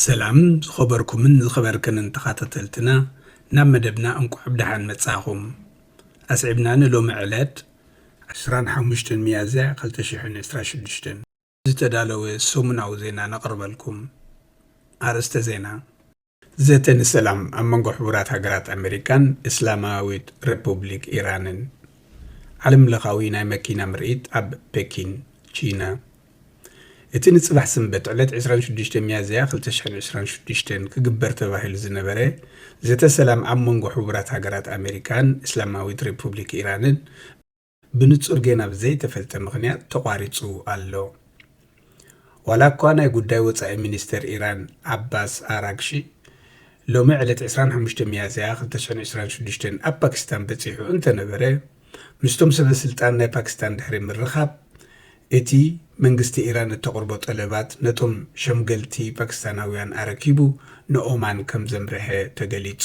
ሰላም ዝኸበርኩምን ዝኸበርክንን ተኻታተልትና ናብ መደብና እንቋዕ ብደሓን መጻኹም ኣስዒብና ንሎሚ ዕለት ዕስራን ሓሙሽተን ሚያዝያ ክልተ ሽሕን ዕስራን ሽዱሽተን ዝተዳለወ ሰሙናዊ ዜና ነቕርበልኩም። ኣርእስተ ዜና። ዘተ ንሰላም ኣብ መንጎ ሕቡራት ሃገራት ኣመሪካን እስላማዊት ረፑብሊክ ኢራንን። ዓለም ለኻዊ ናይ መኪና ምርኢት ኣብ ፔኪን፣ ቺና። እቲ ንጽባሕ ሰንበት ዕለት ዕስራን ሽዱሽተን ሚያዝያ ክልተ ሽሕን ዕስራን ሽዱሽተን ክግበር ተባሂሉ ዝነበረ ዘተ ሰላም ኣብ መንጎ ሕቡራት ሃገራት ኣመሪካን እስላማዊት ረፑብሊክ ኢራንን ብንጹር ጌና ብዘይተፈልጠ ምኽንያት ተቋሪጹ ኣሎ። ዋላኳ ናይ ጉዳይ ወጻኢ ሚኒስተር ኢራን ዓባስ ኣራግሺ ሎሚ ዕለት ዕስራን ሓሙሽተን ሚያዝያ ክልተ ሽሕን ዕስራን ሽዱሽተን ኣብ ፓኪስታን በጺሑ እንተነበረ ምስቶም ሰበስልጣን ናይ ፓኪስታን ድሕሪ ምርኻብ እቲ መንግስቲ ኢራን እተቕርቦ ጠለባት ነቶም ሸምገልቲ ፓኪስታናውያን ኣረኪቡ ንኦማን ከምዘምርሐ ተገሊጹ።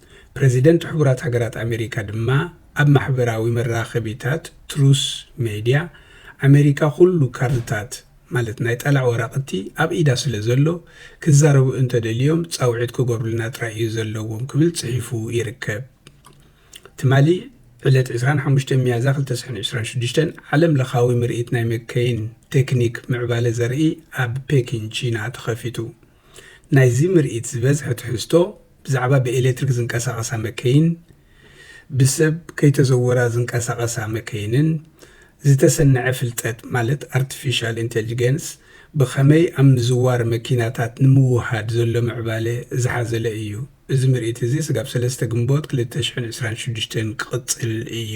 ፕረዚደንት ሕቡራት ሃገራት ኣመሪካ ድማ ኣብ ማሕበራዊ መራኸቢታት ትሩስ ሜድያ፣ ኣመሪካ ኩሉ ካርድታት ማለት ናይ ጠላዕ ወረቕቲ ኣብ ኢዳ ስለ ዘሎ፣ ክዛረቡ እንተ ደልዮም ጻውዒት ክገብሩልና ጥራይ እዩ ዘለዎም ክብል ጽሒፉ ይርከብ። ትማሊ ዕለት ዕስራን ሓሙሽተን ሚያዝያ ክልተ ሽሕን ዕስራን ሽዱሽተን ዓለም ለኻዊ ምርኢት ናይ መከይን ቴክኒክ ምዕባለ ዘርኢ ኣብ ፔኪን ቺና ተኸፊቱ። ናይዚ ምርኢት ዝበዝሐ ትሕዝቶ፣ ብዛዕባ ብኤሌክትሪክ ዝንቀሳቐሳ መከይን፣ ብሰብ ከይተዘወራ ዝንቀሳቐሳ መከይንን ዝተሰነዐ ፍልጠት ማለት ኣርቲፊሻል ኢንተልጅገንስ ብኸመይ ኣብ ምዝዋር መኪናታት ንምውህሃድ ዘሎ ምዕባለ ዝሓዘለ እዩ። እዚ ምርኢት እዚ ስጋብ ሰለስተ ግንቦት ክልተ ሽሕን ዕስራን ሽዱሽተን ክቕጽል እዩ።